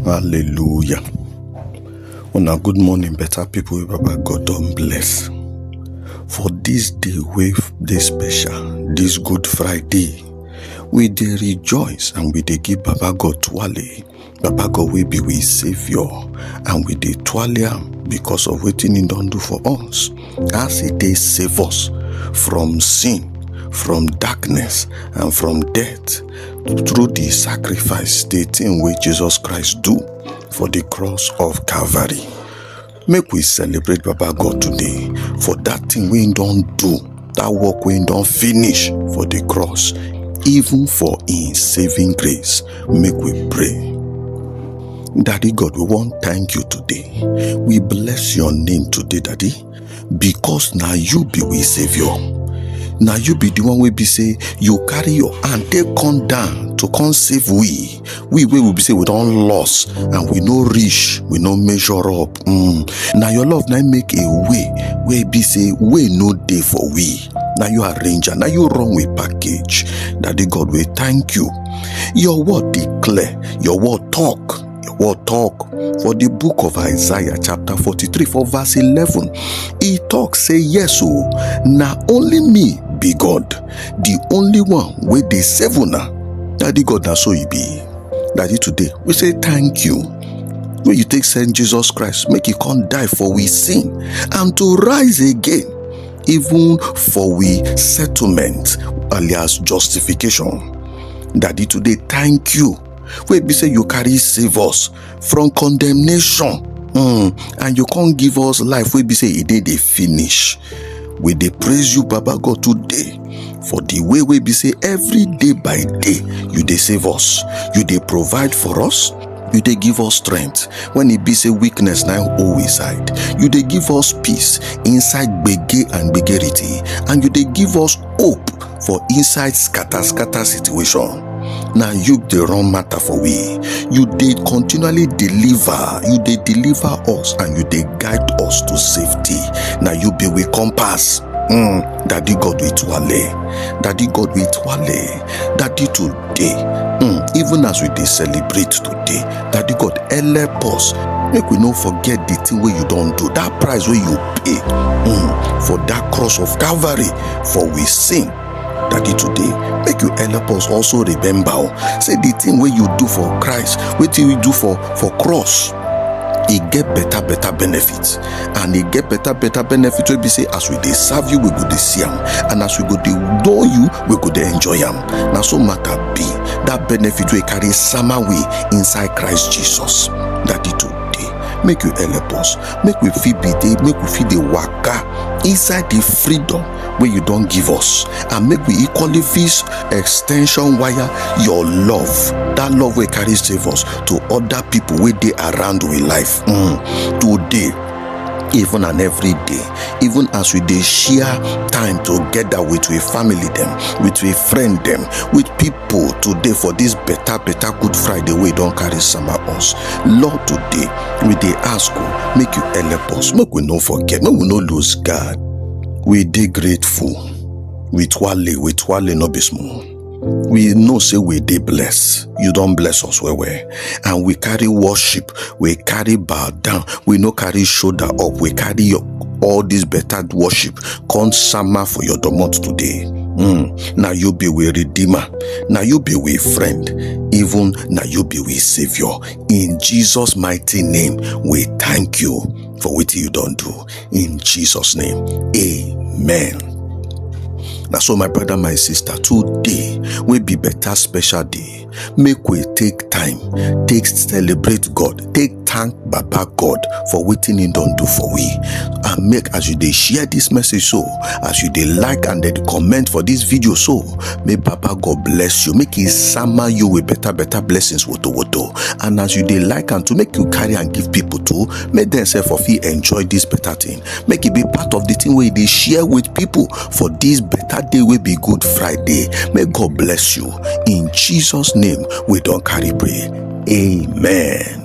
Hallelujah. Una good morning, better people wey Baba God don bless. For this day wey dey special, this Good Friday, we dey rejoice and we dey give Baba God twale. Baba God wey be we saviour and we dey twale am because of wetin he don do for us. As he dey save us from sin, from darkness and from death. through the sacrifice, the thing wey Jesus Christ do for the cross of Calvary. Make we celebrate Baba God today for that thing wey he don do, that work wey he don finish for the cross, even for him saving grace. Make we pray. Daddy God, we wan thank you today. We bless your name today, Daddy. because na you be we saviour na you be the one wey be say you carry your hand take come down to come save we we wey we be say we don loss and we no reach we no measure up mm. na your love na make a way wey be say way no dey for we na you arrange am na you run with package daddy god we thank you your word dey clear your word talk The word talk for the book of Isaiah chapter 43 for verse 11. He talk say yes o, oh, na only me be God, the only one wey dey save una. Daddy God na so he be. Daddy today we say thank you wey you take send Jesus Christ make he come die for we sin and to rise again even for we settlement alias justification. Daddy today thank you wey be say you carry save us from condemnation mm, and you come give us life wey be say e dey dey finish we dey praise you baba god today for the way wey be say every day by day you dey save us you dey provide for us you dey give us strength when e be say weakness na im hold we side you dey give us peace inside gbege and gbegerity and you dey give us hope for inside scatter scatter situation na you dey run matter for we you dey continually deliver you dey deliver us and you dey guide us to safety na you be we compass mm, daddy god we twale daddy god we twale daddy to day hmm even as we dey celebrate today daddy god help us make we no forget the thing wey you don do that price wey you pay hmm for that cross of calvary for we sin daddy today make you help us also remember o say the thing wey you do for christ wetin you do for for cross e get better better benefit and e get better better benefit wey be say as we dey serve you we go dey see am and as we go dey know you we go dey enjoy am na so matter be that benefit wey carry sama we inside christ jesus daddy today make you help us make we fit be dey make we fit dey waka inside the freedom wey you don give us and make we equally fit extension wire your love that love wey carry save us to other people wey dey around we life mm. today even and every day even as we dey share time together with we family dem with we friend dem with people today for this better better good friday wey don carry sama us lord today we dey ask o make you help us make we no forget make we no lose guard we dey grateful with wale with wale no be small. we know say we dey bless you don bless us well well and we carry worship we carry bow down we no carry shoulder up we carry your all this better worship come sama for your domot today mm. na you be we redeemer na you be we friend even na you be we saviour in jesus mighty name we thank you for wetin you don do in Jesus' name. Amen. na so my brother my sister today wey be better special day make we take time take celebrate god take thank baba god for wetin he don do for we and make as you dey share this message so as you dey like and dey comment for this video so may baba god bless you make he sama you with better better blessings woto woto and as you dey like am to make you carry am give people too make dem sef for fit enjoy this better thing make e be part of the thing wey e dey share with people for this better day wey be good friday may god bless you in jesus name we don carry pray amen.